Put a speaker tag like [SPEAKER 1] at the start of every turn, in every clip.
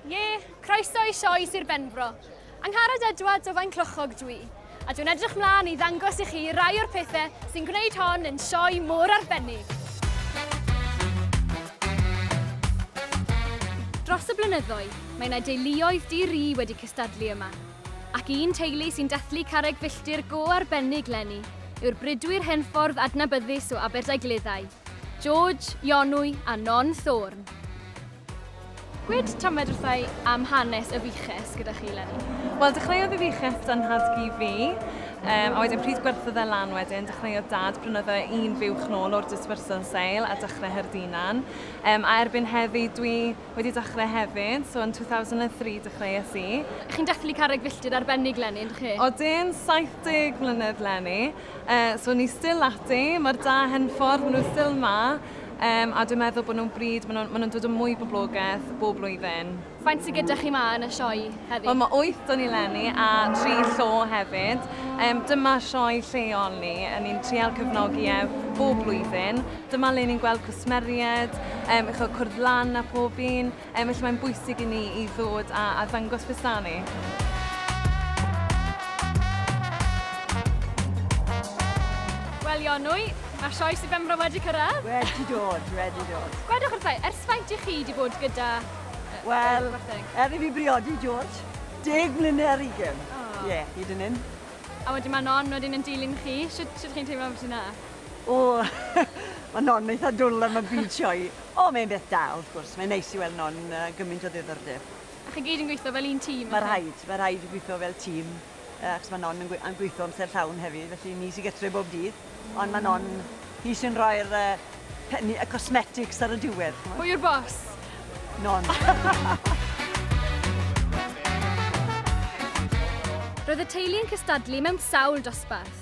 [SPEAKER 1] Ie, croeso i sioe Sir Benfro. Angharad Edwards o Faenclochog dw i, a dwi'n edrych mlaen i ddangos i chi rai o'r pethau sy'n gwneud hon yn sioe mor arbennig. Dros y blynyddoedd, mae yna deuluoedd di-ri wedi cystadlu yma, ac un teulu sy'n dathlu carreg filltir go arbennig leni yw'r bridwyr henffordd adnabyddus o Aberdaugleddau, George, Ionwy a Non Thorne. Gwed tamed wrthai am hanes y fuches gyda chi Lenny. Wel, dechreuodd y
[SPEAKER 2] fuches dan nhad-cu fi, um, a wedyn pryd gwerthodd e lan wedyn, dechreuodd dad, brynodd e un fuwch nôl o'r dispersal sale a dechrau her dinan. Um, a erbyn heddi, dwi wedi dechrau hefyd, so yn 2003 dechreuais i. Chi'n dathlu carreg
[SPEAKER 1] filltir arbennig Lenny, ydych chi? Odyn,
[SPEAKER 2] 70 mlynedd Lenny, uh, so ni still ati, mae'r da hen ffordd nhw still ma, Um, a dwi'n meddwl bod nhw'n bryd, maen nhw'n ma nhw dod yn mwy poblogaeth bob blwyddyn. Faint sydd gyda chi
[SPEAKER 1] ma yn y sioe heddi? Wel, mae 8 o'n i
[SPEAKER 2] lenni a 3 llo hefyd. Um, dyma sioe lleol ni, yn ni'n trial cyfnogi e bob blwyddyn. Dyma le ni'n gweld cwsmeriaid, um, eich cwrdd lan a pob un. Yym felly mae'n bwysig i ni i ddod a a dangos beth sda ni.
[SPEAKER 1] Wel Ionwy, mae'r sioe sydd Benfro wedi cyrraedd. Wedi dod, wedi
[SPEAKER 3] dod. Gwedwch wrthau,
[SPEAKER 1] ers faint i chi wedi bod gyda... Wel,
[SPEAKER 3] er i fi briodi George, deg mlynedd ar ugen. Ie, oh. yeah, hyd yn hyn. A wedyn mae
[SPEAKER 1] non wedyn yn dilyn chi, sut, sut chi'n teimlo am sy'n na? O,
[SPEAKER 3] mae non eitha dwl am y byd sioe. O, mae'n beth da, wrth gwrs. Mae'n neis i weld non gymaint o ddiddordeb. A chi gyd yn gweithio
[SPEAKER 1] fel un tîm? Mae rhaid, mae rhaid
[SPEAKER 3] gweithio fel tîm, achos mae non yn gweithio amser llawn hefyd, felly ni sy'n gytre bob dydd, ond mae non hi sy'n rhoi'r penni, y cosmetics ar y diwedd. Pwy yw'r bos?
[SPEAKER 1] Non. Roedd y teulu yn cystadlu mewn sawl dosbarth.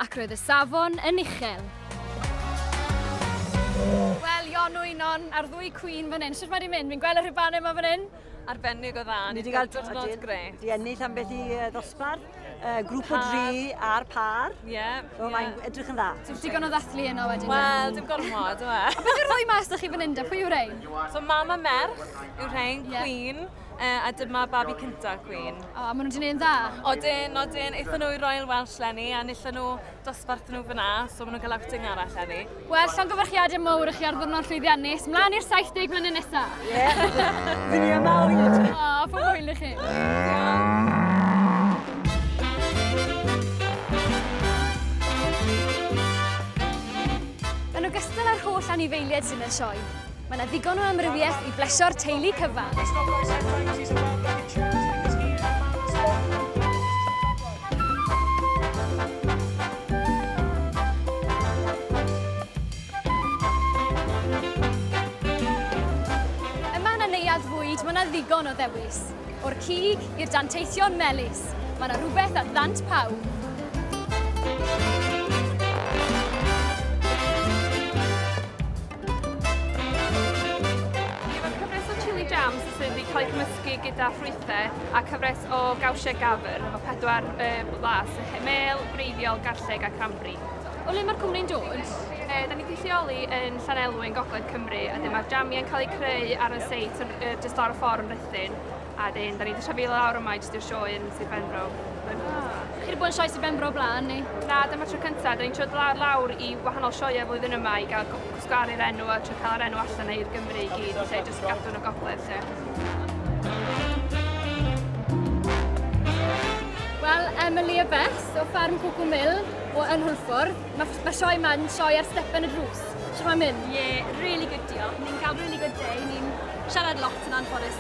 [SPEAKER 1] Ac roedd y safon yn uchel. Wel, Jon Wynon a'r ddwy cwîn fan hyn. Sut mae wedi mynd? Fi'n gweld y rhubanau yma fan hyn. Arbennig o dda.
[SPEAKER 2] Ni wedi cael diwrnod grêt. Di ennill am beth i
[SPEAKER 3] ddosbarth, grŵp o dri a'r par. Ie. Yeah, so yeah. mae'n
[SPEAKER 2] edrych yn
[SPEAKER 3] dda. Ti'n digon o ddathlu yno
[SPEAKER 1] wedyn? Wel, dim gormod,
[SPEAKER 2] yw e. A beth yw'r rhoi mas da chi fan
[SPEAKER 1] hyn da? Pwy yw'r rhain? So mam a merch
[SPEAKER 2] yw'r rhain, yeah. cwîn. uh, a dyma babi cynta Queen. O, oh, maen nhw wedi gwneud yn dda.
[SPEAKER 1] Odyn, odyn, eithon nhw
[SPEAKER 2] i Royal Welsh lenni, a nillon nhw dosbarth nhw fyna, so maen nhw'n cael outing arall lenni. Wel, llongyfarchiadau
[SPEAKER 1] mowr i chi ar ddwrnod llwyddiannus, mlaen i'r 70 mlynedd nesaf.
[SPEAKER 3] Ie, yeah. dyn ni am awr. O, oh, fy hwyl i chi.
[SPEAKER 1] Yn ogystal â'r holl anifeiliaid sy'n y sioe, Mae yna ddigon o amrywiaeth i blesio'r teulu cyfan. ddigon o ddewis. O'r cig i'r danteithion melys, mae yna rhywbeth a ddant pawb.
[SPEAKER 4] cael eu cymysgu gyda ffrwythau a cyfres o gawsiau gafr efo pedwar e, las, mel, breiddiol, garlleg a cranbri. O le mae'r
[SPEAKER 1] cwmni'n dod? E, da ni'n gweithioli
[SPEAKER 4] yn Llanelwy yn Gogledd Cymru a dyma'r jamiau'n cael eu creu ar y seit yn, just ar y ffordd yn Rhythyn. A dyn, da ni wedi trefnu lawr yma i jyst i'r sioe yn Sir Benfro. Mae'n... Chi wedi
[SPEAKER 1] bod yn sioe Sir Benfro o blaen, ni? Na, dyma tro cyntaf.
[SPEAKER 4] Da ni'n trod lawr lawr i wahanol sioeau flwyddyn yma i gael gwsgaru'r enw a tro cael yr enw allan i'r Gymru i gyd, lle jyst gadw yn y gogledd, lle.
[SPEAKER 1] Wel, Emily a Beth o ffarm Cwcw Mill o yn Hwlffordd. Mae ma sioe yma yn sioe ar stepen y drws. Sut mae'n mynd? Ie, yeah, really good
[SPEAKER 5] diolch. Ni'n cael really good day. Ni'n siarad lot yn anffodus.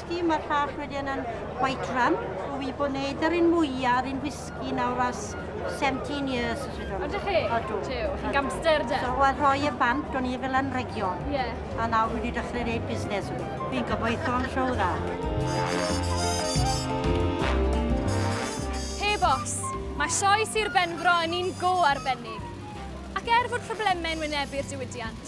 [SPEAKER 6] whisky, mae'r llall wedyn yn white rum. Dwi wedi bod wneud yr un mwyaf ar un whisky nawr as 17 years. O, dych chi? Odw.
[SPEAKER 1] Tiw, chi'n
[SPEAKER 6] gamster,
[SPEAKER 1] de? So, wel, rhoi y bant,
[SPEAKER 6] o'n i fel yn regio. Ie. Yeah. A nawr
[SPEAKER 1] wedi dechrau
[SPEAKER 6] gwneud busnes. Fi'n gobeithio'n siw dda.
[SPEAKER 1] Hey, bos. Mae sioe Sir Benfro yn un go arbennig. Ac er fod problemau'n wynebu'r diwydiant,